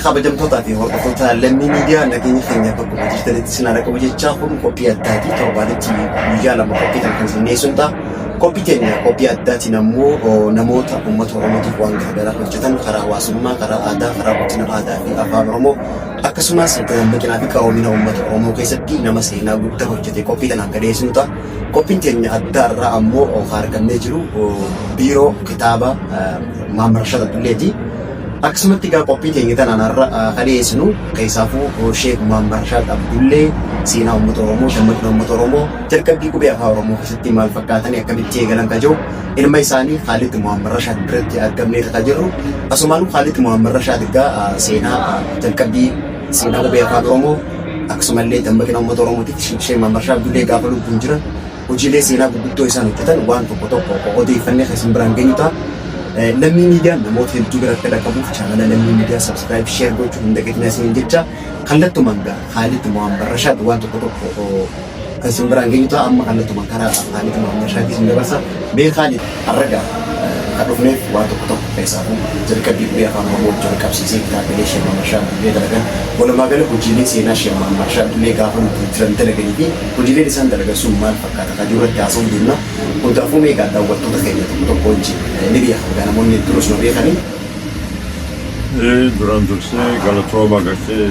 kabajamtootaa fi hordoftoota lammii miidiyaa nageenya keenya bakka hojjetanitti sinaa dhaqabu jechaa kun qophii addaati torbaanitti guyyaa lama qophii kan kan sinneessuun ta'a. Qophii keenya qophii addaatiin ammoo namoota uummata Oromootiif waan garaagaraa hojjetan karaa hawaasummaa, karaa aadaa, karaa guddina aadaa fi afaan Oromoo Akkasumas dammaqinaa fi qaroomina uummata Oromoo keessatti nama seenaa guddaa hojjete qophii tanaan ka dhiyeessinu ta'a. Qophiin teenya addaa irraa ammoo ka harkannee jiru biiroo kitaaba Maam Rashaad Abdulleeti. Akkasumatti egaa qophii teenya tanaan har'a ka dhiyeessinu keessaafuu Sheek Maam Rashaad Abdullee seenaa uummata Oromoo, dammaqina uummata Oromoo, jalqabbii qubee afaa Oromoo keessatti maal fakkaatanii akkamitti eegalan ka jiru Ilma isaanii Khaalid Muhammad Rashaad biratti argamneerra kan jirru. Asumaan Khaalid Muhammad Rashaad egaa seenaa jalqabbii seenaa qubee afaan Oromoo akkasumallee dammaqina uummata Oromootiif Sheek Muhammad Rashaad Dullee gaafa lubbuun jiran hojiilee seenaa gurguddoo isaan hojjetan waan tokko tokko odeeffannee kan isin biraan geenyu ta'a. Lammii miidiyaan namoota hedduu bira akka dhaqqabuuf chaanala lammii miidiyaa sabskiraayib sheer gochuu hin dagatinaa isiniin jecha kallattumaan gaa Khaalid Muhammad Rashaad waan tokko tokko kan isin biraan geenyu ta'a amma kallattumaan karaa Khaalid Muhammad Shaakii isin dabarsa mee Khaalid harraga kan dhufneef waan tokko tokko keessaa kun jalqabbii qubee afaan Oromoo wajjin qabsiisee kitaabilee Sheekh Muhammad Shaakii dalagan walumaa gala hojiilee seenaa Sheekh Muhammad Shaakii gaafa nuti jiran dalaganii fi hojiileen isaan dalagan sun maal fakkaata kan jiru irratti haasa'uu deemna hundaafuu mee egaa daawwattoota keenya tokko tokko wajjin ni beekan egaa namoonni hedduun osuma beekanii Ee, duraan dursee galatooma gartee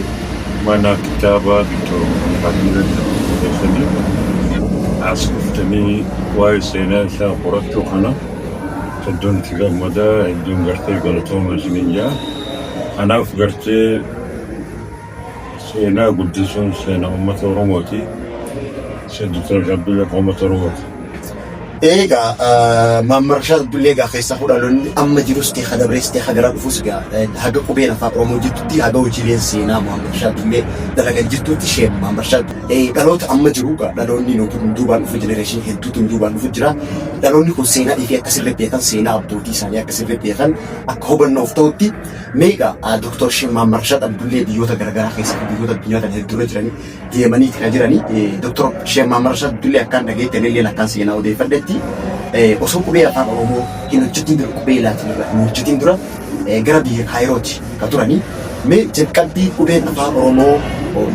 mana kitaabaa Dr. Muhammad keessanii as dhuftanii waa'ee seenaa isaa qorachuu kana hedduun itti gammadaa hedduun gartee galatooma isiniin jaa. Kanaaf gartee Seenaa guddisuun seenaa uummata Oromooti. Seen Dr. Abdullee kan uummata Oromooti. Eegaa Maammar Rashaad Abdullee egaa keessaa hudhaloonni amma jirus ta'e kadabrees ta'e hagaraa dhufus egaa haga qubeen afaan Oromoo jirtutti haga hojiileen seenaa Maammar Rashaad Abdullee dalagan jirtutti isheen Maammar Rashaad dhaloota amma jiru egaa dhaloonni nuti kun duubaan dhufu jenereeshinii hedduutu duubaan dhufu jira. Dhaloonni kun seenaa dhiifee akka sirrii beekan seenaa abbootii isaanii akka sirrii beekan akka hubannoof ta'utti Mee egaa Dr. Sheikh Muhammad Rashad Abdullee biyyoota garaagaraa keessatti biyyoota addunyaa tana hedduurra jiranii deemanii itti jiranii Dr. Sheikh Muhammad Rashad Abdullee akkaan dhageetti ani illee akkaan seenaa odeeffadhetti osoo qubee afaan Oromoo hin hojjetiin dura qubee laatiin irra hin hojjetiin dura gara biyya Kaayirooti ka turanii mee jalqabbii qubeen afaan Oromoo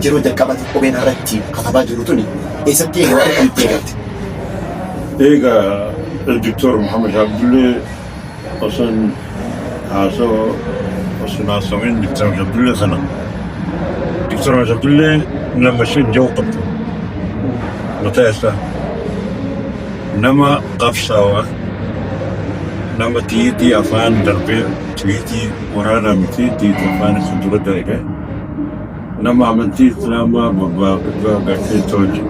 yeroo jalqabatti qubeen irratti katabaa jiru tuni eessatti yeroo argamtee galte. Egaa Dr. Muhammad Abdullee Osoon haasoo osoon haasawin Dr. Abdullee sana Dr. Abdullee nama isheen jiru qabdu mataa isaa nama qabsaawaa nama tiyiitii afaan darbee tiyiitii waraanaa miti tiyiitii afaan isa dura darbee Nama amantii Islaamaa babal'ifachaa agartee tolche.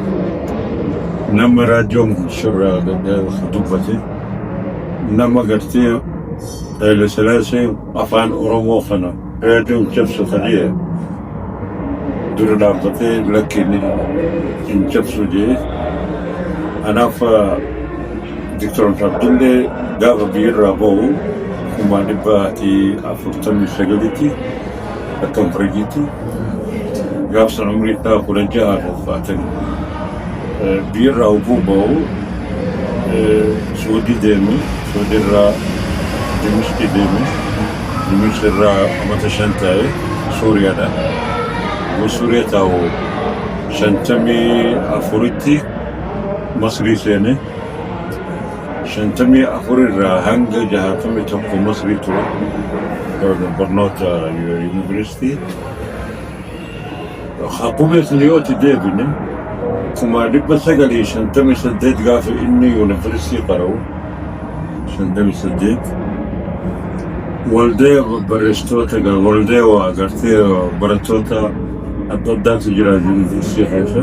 Nama raadiyoon shirraa dubbate. Nama gartee Haile Sillaasee afaan Oromoo kana raadiyoon cabsu ta'ee dura dhaabbatee lakkii ni hin cabsu jee. Kanaaf Dr. Abdullee gaafa biyyarraa ba'u kuma dhibba afurtamii sagalitti akka hin fayyiitti gaaf sana umrii isaa kudha ja'a fi ulfaatan biyyarraa oguu ba'u suudii deeme suudirraa dimishqii deeme dimishqirraa amata shan taa'e suuriyaadha yoo suuriya taa'u shantamii afuritti masrii seene 54 irraa hanga 61 Masrii ture bar- barnoota yuunivarsiitii. Akkuma isin yoo itti deebine kuma 958 gaafa inni yuunivarsiitii qara'u 58 waldee barreessitoota egaa waldee waa agartee barattoota adda addaatu jira yuunivarsiitii keessa.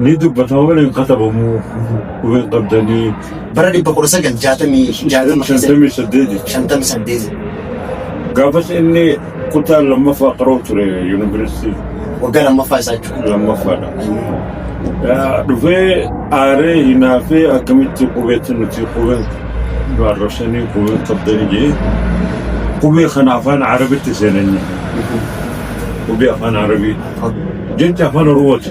Ni dubbatama malee hin katabamu. Quba hin qabdanii. Bara 966 keessa 58 jechuudha. 58 Gaafas inni kutaa lammaffaa qaroo ture yuunivarsiitii waggaa lammaffaa isaa jechuudha. lammaffaadha. Yaa, Dhufee aaree hinaafee akkamitti qubeetti nuti qubeen nu arrabsanii qubeen qabdanii jee qubee kana afaan arabitti seenanii qubee afaan arabii jecha afaan oromooti.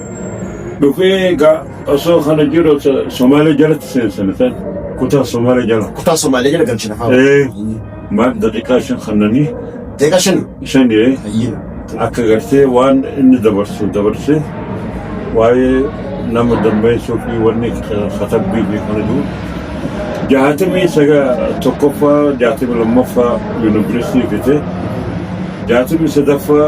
Dhufee egaa osoo kana jiru so- Somaalee jalatti seensana ta'e kutaa Somaalee jala. Kutaa Somaalee jala galchina haa. Ee maal daqiiqaa shan kannanii Deeqa shan. shan ee Ayyiin. akka gartee waan inni dabarsu dabarsee waa'ee nama dammeessuu fi wanni katabbii fi kana jiru. Jaatamii saga tokkoffaa jaatamii lammaffaa yuunivarsiitii fite jaatamii sadaffaa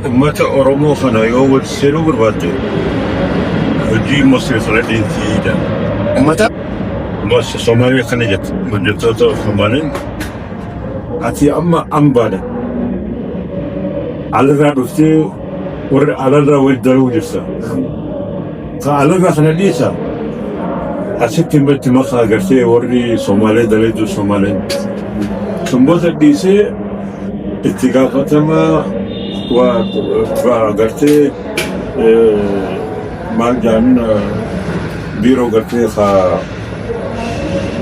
Ummata Oromoo kana yoo wal seenuu barbaadde hojii Masri Fredinti jedha. Ummata Mas Somaaliya kana jette hojjettoota Somaaliin ati amma ambaadha. Alarraa dhuftee warra alarraa wal daluu jirta. Ka alaga kana dhiisa asitti immatti maka agartee warri Somaalee dalayduu Somaaleen sanboota dhiisee itti gaafatama waa waa agartee eh, maal jaamin biiroo gartee ka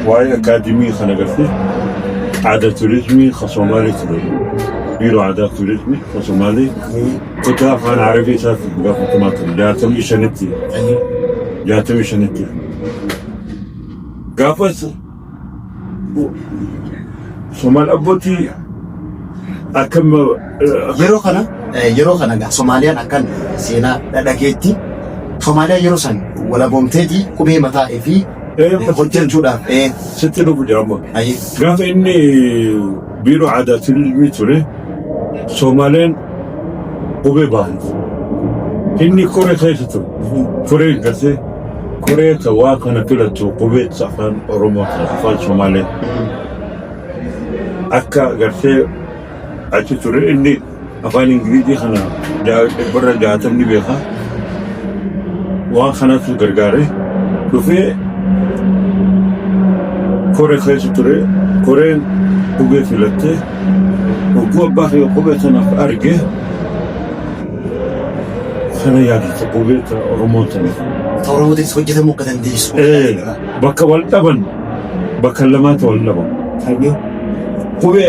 waa'ee akaadimii kan agartee aadaa turizimii ka Somaalee ture biiroo aadaa turizimii ka Somaalee Kutaa afaan Arabii isaaf gaafatamaa ture. Jaatamii shanitti. Jaatamii shanitti. Gaafas Somaal abbootii akka yeroo kana Eh, yeroo kana gaa Somaaliyaan akkan seenaa dhadhageetti Somaaliyaan yeroo san walaboomteeti qubee mataa fi Eh, hojjechuudhaaf. Eh, sitti dhufu jedhama. ayi. Gaafa inni Biiroo Aadaa fi Ilmii ture Soomaleen qubee baafate. Inni koree keessa ture. Koreen gartee koree ta waa kana filatu qubee afaan Oromoo ta afaan Soomalee akka gartee achi ture inni Afaan Ingilizii kana dhibbarra jaatamni beeka. Waan kanatu gargaare dhufee koree keessa ture. Koreen qubee filattee hogguu abbaa kee qubee sanaaf arge kana yaadata qubee ta Oromoo tana. Afaan Oromootiinis hojjetamuu akka dandeessu. Bakka wal dhaban bakka lamaatti wal dhaban. Qubee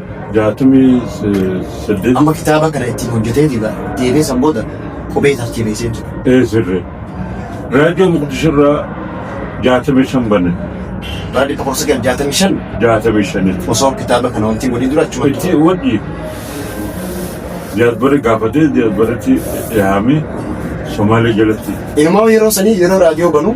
jaatamii saddeet. Amma kitaaba kana ittiin hojjetee fi deebee san booda qubee tartiibeessee jira. Ee sirri. Raadiyoo Muqdishirraa jaatamii shan bane. Raadiyoo Tokkorsa Gad jaatamii shan. Jaatamii shanitti. Osoo kitaaba kana wanti godhee dura achuma. Itti wadhi. Jaadbare gaafatee jaadbaretti dhiyaamee Somaalee jalatti. Ilmoo yeroo sanii yeroo raadiyoo banuu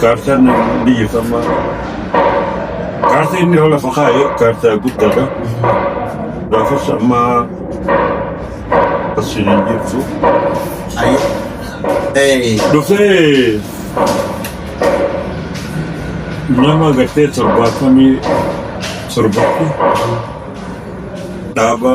Kaartaan biyya kammaa kaartaa inni yoo lafa kaa'e kaartaa guddaadha. Daafas amma asiin hin jirtu. Dhufee nama gartee torbaatamii torbatti dhaaba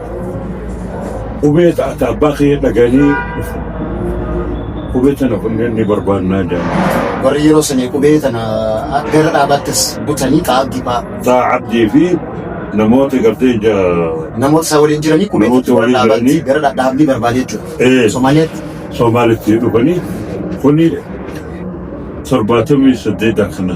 Qubee taata abbaa kee dhaganii qubee tana kunneen ni barbaannaa jedhan. Warri yeroo sanii qubee tana akka irra dhaabattis butanii xaa'abdii fa'aa. Taa Abdii fi namoota gartee ja Namoota isaa waliin jiranii qubee Namoota tokko waliin dhaabaatti jiranii. gara dhadhaabdii barbaade Eh. jechuudha. Somaaliyaatti Somaalitti dhufanii kuni torbaatamii saddeet akkana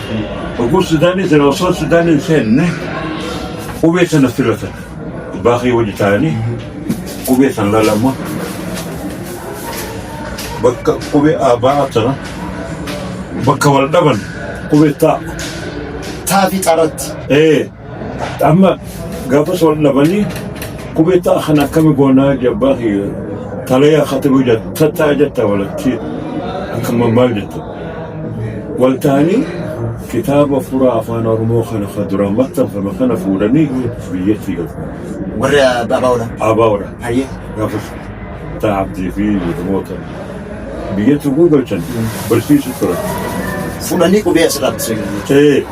Oguu Sudaanii sana osoo Sudaanii hin seenne qubee sana filatan. Abbaa kee wajji taa'anii qubee sana lalama bakka qubee abbaa sana bakka wal dhaban qubee taa. Taa fi xaratti. Ee. Amma gaafa soon dhabanii qubeetta kan akkami goonaa jabbaa fi talayaa khatibuu jetta tattaa jetta walatti akkama maal jetta wal ta'anii kitaaba furaa afaan oromoo kana ka duraan maxxanfame kana fuudhanii biyyatti galu Warri abaawoodha. abaawoodha Hayyee. gaafas taa'abdii fi jedhamoota biyyatti gurgalchan barsiisu turan. Fuudhanii qubee asirraa bitisee. Ee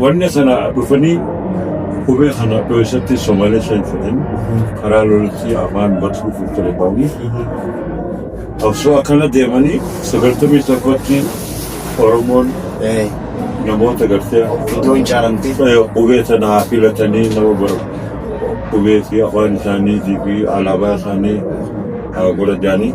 Wanna sana dhufanii qubee kana dho'isatti Somaalee shan fudhan karaa lolatti afaan batuu fi ture baanii osoo akkana deemanii sagaltamii tokkotti Oromoon namoota gartee Itoo hin caalamtee. qubee sana haa filatanii nama bara qubee fi afaan isaanii fi alaabaa isaanii haa godhataanii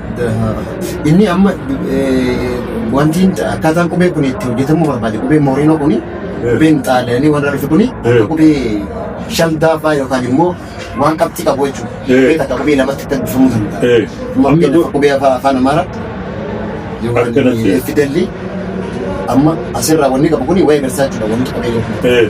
Inni amma wanti akkaataan qubee kun itti hojjetamuu barbaade qubee mooriinoo kun qubeen xaaliyaanii warra rufe kun akka qubee shaldaafaa yookaan immoo waan qabxii qabu jechuudha. Qubee takka qubee lamatti kan bifamuu danda'a. Amma qubee afaan amaaraa fidelli amma asirraa wanni qabu kun waa'ee garsaa jechuudha wanti qubee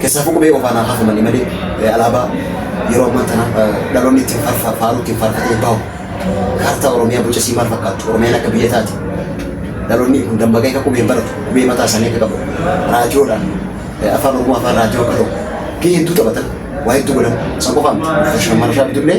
Kessaafuu qubee qofaan haa hafamani malee alaabaa yeroo ammaa tana dhaloonni ittiin farfa faaruu ittiin faarfatee bahu kaartaa Oromiyaa boca isii maal fakkaattu Oromiyaan akka biyya taate dhaloonni kun dammaqee akka qubeen baratu qubee mataa isaanii akka qabu raadiyoodhaan afaan Oromoo afaan raadiyoo akka ta'u gahee hedduu taphatan waa hedduu godhan san qofaa miti. Shamarashaa bitullee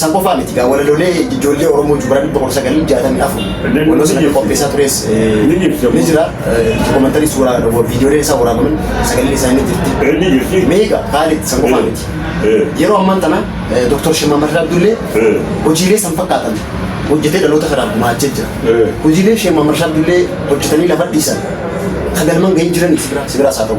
San qofaa miti gaa walaloolee ijoollee Oromoo Jubraan 1964 waloo sana qopheessaa tures ni jira. Dokumantarii suuraa viidiyoolee isaa waraabaman sagalee isaa ni jirti. Meeqa Kaalid san qofaa miti. Yeroo ammaan tana Dr. Shimmaa Marraa Abdullee hojiilee san fakkaatan hojjetee dhaloota kanaaf gumaachee jira. Hojiilee Shimmaa Marraa Abdullee hojjetanii lafa dhiisan kan galmaan gahee jiraniif sibiraa isaa ta'u.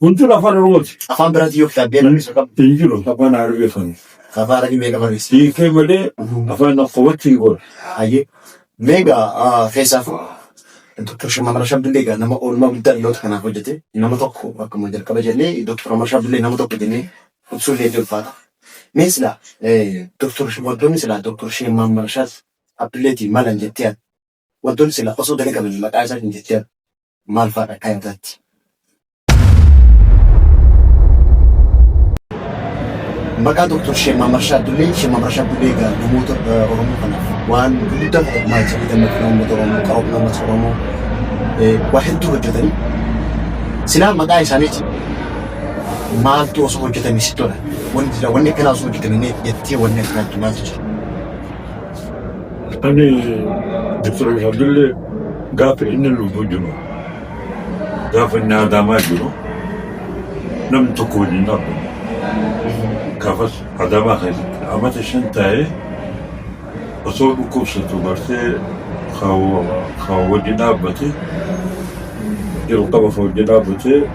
Kun jiru afaan Oromooti. Afaan biraatiin yoo kitaabee barreessa qabu. Hin jiru afaan Arabii afaan. Afaan Arabii meeqa barreessa? Hiikee malee afaan akkootti hin goone. Hayyee. Meegaa keessaafuu Doktar Shammar Ashabdillee egaa nama oolmaa guddaa dhaloota kanaaf hojjete nama tokko akkuma jalqaba jennee Doktar Shammar Ashabdillee nama tokko jennee ibsuu illee ni ulfaata. Mee silaa Doktar Shamarroonni silaa Doktar Shammar Ashabdilleetiin malan jettee Wantoonni silaa osoo dalagamanii maqaa isaatiin jechaan maal faadha akka yaadaatti? Maqaa Dooktor Sheek Maamar Shaaddulee, Sheek Maamar Shaaddulee egaa namoota eh, Oromoo kanaaf waan gurguddaa ta'e maal jedhee dammaqina uummata Oromoo, qaroomina uummata Oromoo eh, waa hedduu hojjetanii silaa maqaa isaaniitiin maaltu osoo hojjetame sitti tola? Wanti jira, wanni akkanaa osoo hojjetame jettee wanni akkanaatti maaltu jira? Ani Dr. Abdullee gaafa inni lubbuu jiru gaafa inni Adaamaa jiru namni tokko waliin dhaabbanne. Gaafas Adaamaa keessatti amata shan taa'ee osoo dhukkubsatu bartee kan wajjin dhaabbate jalqaba kan wajjin dhaabbatee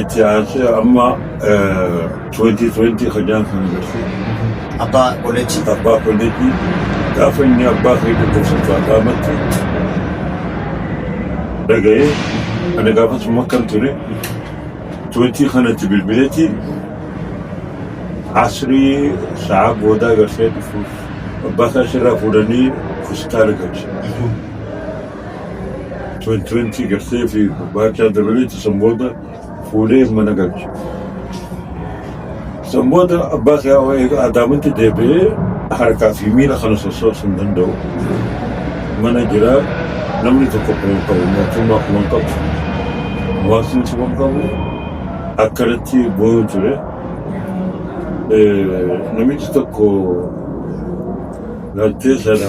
Itti aansee amma eh, 2020 hojjaan kan jirti. Abbaa Kolleejjii. Abbaa kolleejjii gaafa inni abbaa kee dhukkubsatu Adaamatti dhaga'ee ani gaafas makkan ture 20 kanatti bilbileeti asrii sa'a boodaa garsee dhufuuf abbaa isaa sirraa fuudhanii hospitaala galche. 2020 garsee fi barbaacha dabaleetti san booda fuudhee mana galche. San booda abbaa kee hawaa eega adaamatti deebi'ee harkaa fi miila kana sossoosu hin danda'u. Mana jira namni tokko kuma qabu mootummaa kuma qabu hawaasni kuma qabu akkanatti boo'u ture. Eh, Namichi tokko galtee sana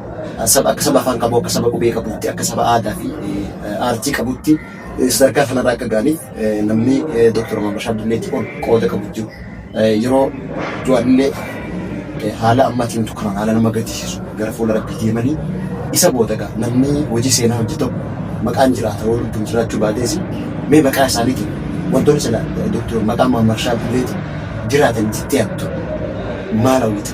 Saba akka saba afaan qabu, akka saba qubee qabutti, akka saba aadaa fi aartii qabutti sadarkaa kanarra akka ga'aniif namni Dooktar Omar Bashaar Dulleetti ol qooda qabu jiru. Yeroo du'anillee haala ammatti himtu kanaan haala nama gaddisiisu gara fuula rabbii deemanii isa booda gaa namni hojii seenaa hojii tokko maqaan jiraata yoo lubbuun jiraachuu baatees mee maqaa isaaniitiin wantoonni sila Dooktar maqaa Muhammad Bashaar Dulleetti jiraatan jettee yaaddu maal hawwita?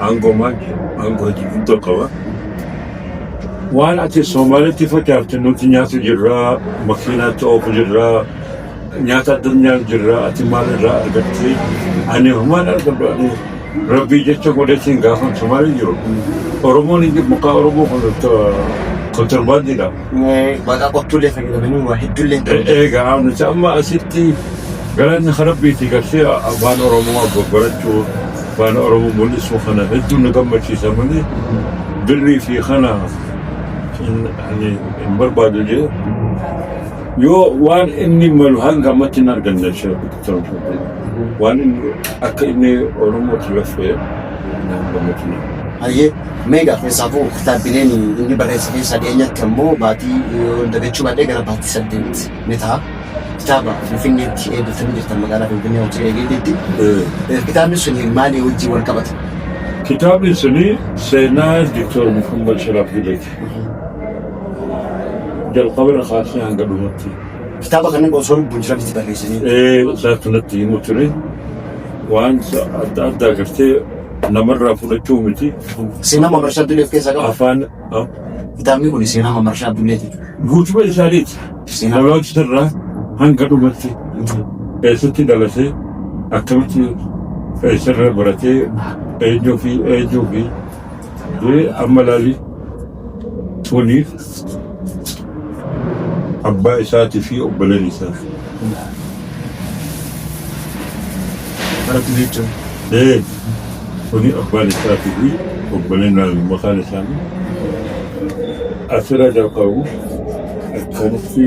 aangoo maal jedhu aangoo hojii kun tokko qaba. Waan ati Somaalitti facaafte nuti nyaatu jirra, makiinaatti oofu jirra, nyaata addunyaa jirra, ati maal irraa argatte? Ani homaan argadhu ani rabbii jecha godhetiin gaafan Somaalii jiru. Oromoon hin jiru, maqaa Oromoo kun kontirbaandiidha. maqaa qottuullee fayyadamanii waa hedduullee ta'u. Egaa nuti amma asitti galanni kan rabbiiti gartee afaan Oromoo barachuu afaan Oromoo mul'isuu kana hedduu nu gammachiisa malee birrii fi kana ani hin barbaadu jee yoo waan inni malu hanga ammatti hin arganne ishee waan inni akka inni Oromoo tilafee hin gammachiisa. Hayyee Meegaa keessaafuu kitaabbileen inni barreesse keessaa dhiyeenyatti ammoo baatii yoo dagachuu baadhee gara baatii saddeet ni ta'a. Kitaaba Finfinneetti eeggatanii jirtan magaalaa Finfinnee Hoteela Eegeetiitti. Eh, Kitaabni sun maalii wajjin wal qabata? Kitaabni suni seenaa Diktor Muhammad Sharaaf Gidati. Jalqaba irra kaasee hanga dhumatti. Kitaaba kana osoo lubbuun jiran itti barreessanii. Ee, isaa kanatti himu ture. Waan adda addaa gartee namarraa fudhachuu miti. Seenaa Mamarashaa Abdullee of keessaa qaba. Afaan ah, Kitaabni kun seenaa Mamarashaa Abdullee ti. guutuba isaaniiti. Seenaa. Dhaloota irraa hanga dhumatti eessatti dhalatee akkamitti eessarra baratee eenyuu fi eenyuu fi eh, amma laali Waliif abbaa isaatii fi obboleen isaa. Ee, kuni abbaan isaatii fi obboleen naami maqaan isaanii. Asirra jalqabu akkanatti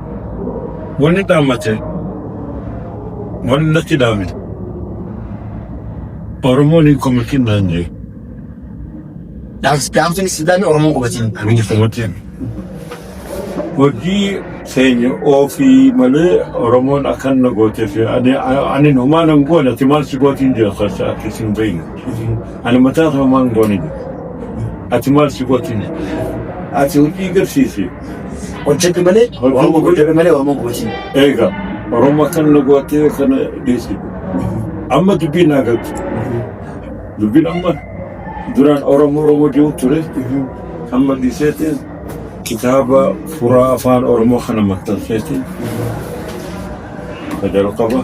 Wanni dhaammate waan natti dhaame Oromoon hin komatin naan jee. Dhaamsi dhaamtuun islaamii Oromoo qubatiin Hin miidhagfame. komatin. Hojii keenya ofii malee Oromoon akkan na gootee fi ani ani humaa nan goone ati maal si gootiin jira keessa akka isin beeyne. Ani mataa koo maan goone jira. Ati maal si gootiin jira. Ati hojii garsiisi. Hojjete malee waan gogu hojjete malee waan gogu hojii. Eega Oromoo kan nu gootee kana dhiisi. Amma dubbiin naa galtu. Dubbiin amma duraan Oromoo Oromoo jiru ture. Amma dhiiseetiin kitaaba furaa afaan Oromoo kana maxxanseetiin. Ka jalqaba.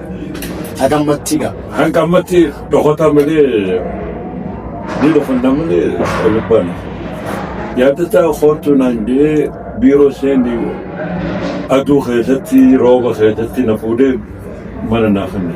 Hagammatti ga. Hanga ammatti dhokata malee ni dhokanna malee lubban. Yaadata koottu naan jee biiroo seenni aduu keessatti rooba keessatti na fuudhee mana naa kenne.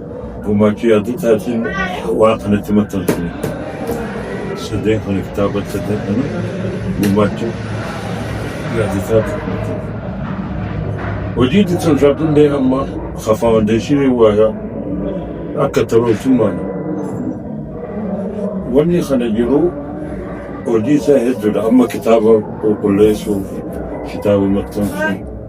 Gumaachii Additaatiin waan kanatti maxxanfame. Sadeen kana kitaaba sadeen kana gumaachii Additaatiin maxxanfame. Hojii ittiin raabdullee amma ka faawundeeshinii waayaa akka taroosummaan wanni kana jiru hojii isaa hedduudha. Amma kitaaba qulqulleessuuf, kitaaba maxxansuuf,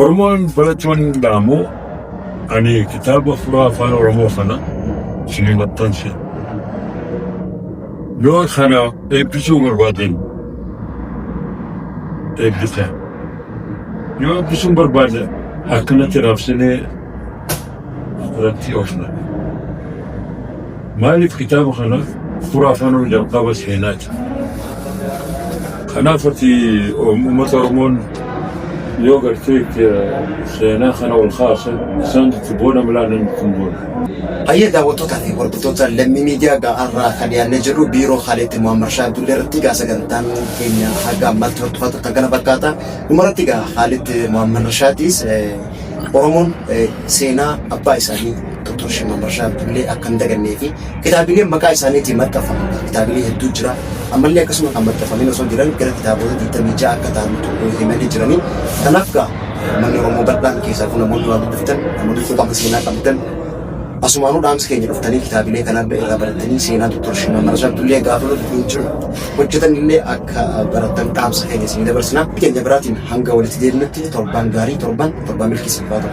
Oromoon baratti waan hin dhaamu ani kitaaba furaa afaan Oromoo kana isinii maxxanse. Yoo kana eebbisuu barbaadan eebbisa. Yoo eebbisuu hin barbaadne akkanatti raabsinee irratti oofna. Maaliif kitaaba kana fura afaan ol jalqaba seenaati. Kanaaf ati uummata Oromoon yoo gartee seenaa kana ol kaasa isaan itti boona milaanan itti hin boona. Hayyee daawwattootaa fi hordoftoota lammii miidiyaa ga'aarraa kan yaadne jedhu biiroo haaleetti Muhammad Shaa Abdullee irratti gaa sagantaan keenya haga ammaatti hordofaa turtan kana fakkaata. Dhumarratti gaa haaleetti Muhammad Shaatiis Oromoon seenaa abbaa isaanii Dr. Shimallis Marashaa Abdullee akka hin dagannee fi kitaabileen maqaa isaaniitiin maxxanfaman kitaabilee hedduu jira. Ammallee akkasuma kan maxxanfamanii osoo jiran gara kitaabota 26 akka ta'antu himanii jiranii. Kanaaf gaa manni Oromoo bal'aan keessaa kun namoonni waa dubbiftan namoonni quuqama seenaa qabdan Asumaanuu dhaamsi keenya dhuftanii kitaabilee kanallee irraa barattanii seenaa Dr. Shimallis Marashaa Abdullee gaafa nuti hin jiru hojjetanillee akka barattan dhaamsa keenya isinii dabarsina. Keenya biraatiin hanga walitti deebinutti torbaan gaarii torban torbaan milkii siif haa ta'u.